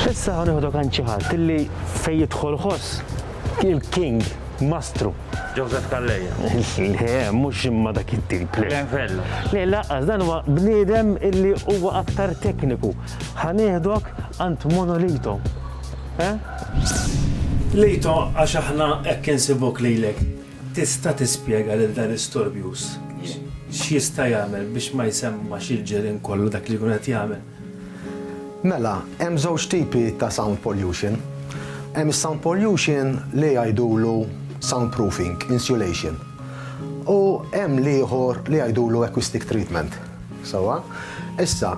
Issa ħa nieħdu kan xi ħadd illi fejn jidħol ħoss il-king mastru. Joseph Calleja. Le, mhux imma dak it-tip. Glenfello. Le, laqqas dan huwa bniedem illi huwa aktar tekniku. Ħa nieħdok għand monolito. Eh? Lejto għax aħna hekk insibuk lilek. Tista' tispjega lil dan istorbjus x'jista' jagħmel biex ma jsemmax il-ġirien kollu dak li jkun qed jagħmel. Mela, hemm żewġ tipi ta' sound pollution. Hemm is-sound pollution li jgħidulu sound proofing, insulation. U hemm l-ieħor li jgħidulu acoustic treatment. Sewwa? Issa,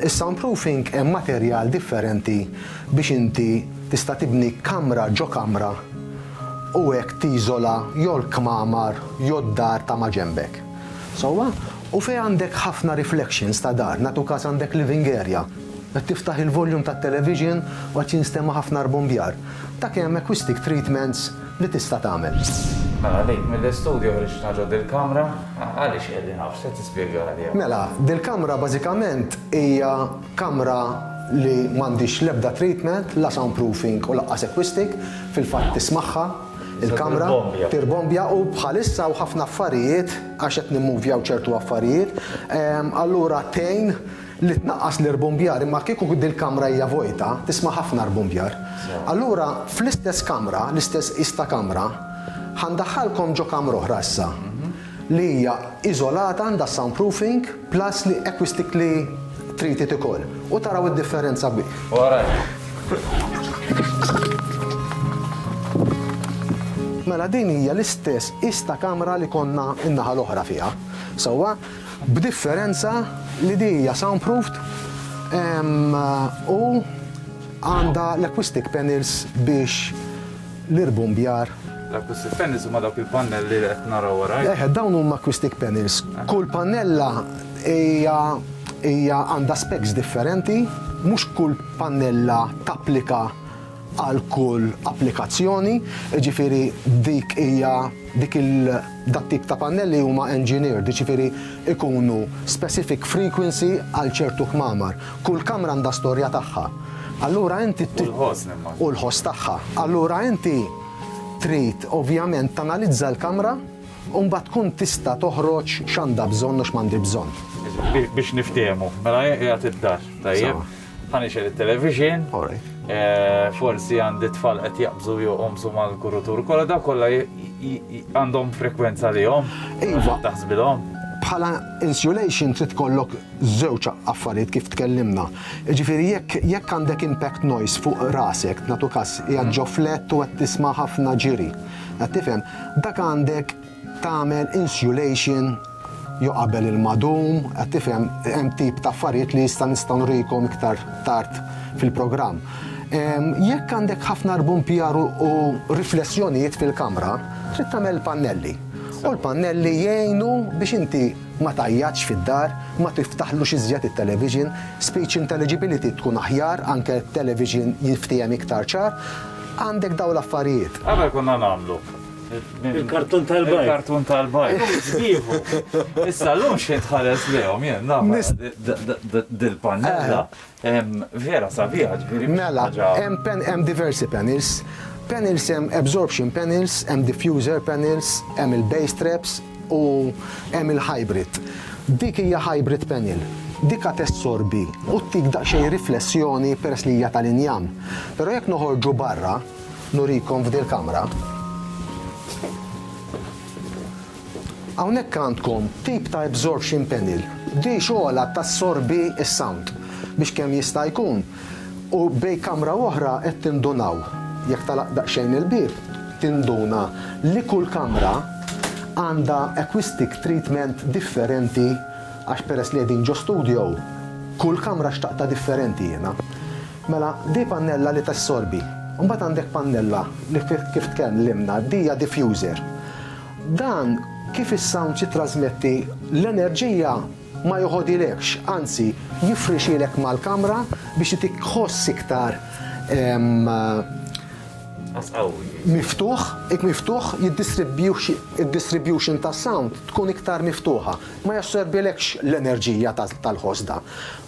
is-sound proofing hemm materjal differenti biex inti tista' tibni kamra ġo kamra u hekk tiżola jew l-kmamar jew d-dar ta' maġenbek. Sewwa? U fejn għandek ħafna reflections ta' dar, nagħtu każ għandek living area, qed tiftaħ il-volume tat-television u qed jinstema' ħafna rbumbjar, dak hemm acoustic treatments li tista' tagħmel. Mela dik mill-istudju ħriġtna ġo dil-kamra, għaliex qiegħdin hawn, x'se tispjega li hawn? Mela, dil-kamra bażikament hija kamra li m'għandhiex l-ebda treatment, la soundproofing u laqqas acoustic, fil-fatt tismagħha. Il-kamra tirbombja u bħalissa u ħafna affarijiet għax qed nimmuvjaw ċertu affarijiet, allura tgħin li tnaqqas l-irbumbjar imma kieku dil-kamra hija vojta tisma' ħafna rbumbjar. Allura fl-istess kamra, l-istess qis ta' kamra, ħa ndaħħalkom ġo kamra oħra issa li hija iżolata għandha soundproofing, Plus li acquistically treated ukoll. U taraw id-differenza bi. Mela din hija l-istess qies ta' kamra li konna n-naħa l-oħra fiha. Sewwa? B'differenza li di hija soundproofed u għandha l-acquistic panels biex l-irbumbjar. L-acoustic panels huma dawk il-pannelli li qed naraw wara. Eħe, eh, dawn huma acoustic panels. Eh. Kull pannella hija hija għandha specs differenti, mhux kull pannella tapplika għal kull applikazzjoni, ġifiri dik hija dik il- Dat-tip ta' pannelli huma engineered, jiġifieri jkunu specific frequency għal ċertu kmamar. Kull kamra għandha storja tagħha. Allura inti trid. U l-ħoss nimmaġina. U l-ħoss tagħha. Allura inti trid ovvjament tanalizza l-kamra u mbagħad tkun tista' toħroġ x'għandha bżonn u x'm'għandhi bżonn. Biex niftehmu, mela hi qiegħed id-dar, tajjeb? Punisher il-television. Eh, forsi għandi tfal qed jaqbżu jew qomsu mal-kurutur kollha daw kollha għandhom frekwenza li jom. Iva. Taħsbilhom. Bħala insulation trid kollok żewġ affarijiet kif tkellimna. Ġifieri jekk jekk għandek impact noise fuq rasek, natu kas hija ġo flet u qed tisma' ħafna ġiri. Qed tifhem, dak għandek tagħmel insulation jew qabel ilma dum, qed tifhem, hemm tip ta' affarijiet li issa nistgħu nurikom iktar tard fil-programm. Jekk għandek ħafna rbumpjar u riflessjonijiet fil-kamra, trid tagħmel il-pannelli. U l-pannelli jgħinu biex inti ma tgħajjatx fid-dar, ma tiftaħlux iżjed it-television, speech intelligibility tkun aħjar, anke television jinftiehem iktar ċar, għandek dawn l-affarijiet. Ara x'konna nagħmlu, Il-kartun tal-bajk. Il-kartun tal-bajk. Sbiħu. Issa l-lum xie tħares lehom jien, naf dil-pannella. Vera sabiħa ġviri. Mela, hemm diversi panels. Panels hemm absorption panels, hemm diffuser panels, hemm il-base traps u hemm il-hybrid. Dik hija hybrid panel. Dik qed tessorbi u ttik daqsxejn riflessjoni peress li hija tal-injam. Però jekk noħorġu barra, Nurikom f'dil kamra. Hawnhekk għandkom tip ta' absorption panel. Di xogħolha tassorbi s-sound biex kemm jista' jkun u bejn kamra u oħra qed tindunaw, jekk tagħlaq daqsxejn il-bieb tinduna li kull kamra għandha acoustic treatment differenti għax peress li qegħdin ġo studio, kull kamra xtaqtha differenti jiena. Mela, di pannella li tassorbi. Mbagħad għandek pannella li kif tkellimna, di hija diffuser. Dan kif is-sound jittrasmetti l-enerġija ma joħodilekx, anzi jifrixilek mal-kamra biex itik ħoss iktar miftuħ, ik miftuħ, id-distribution tas-sound tkun iktar miftuħa. Ma jassorbilekx l-enerġija tal-ħoss da.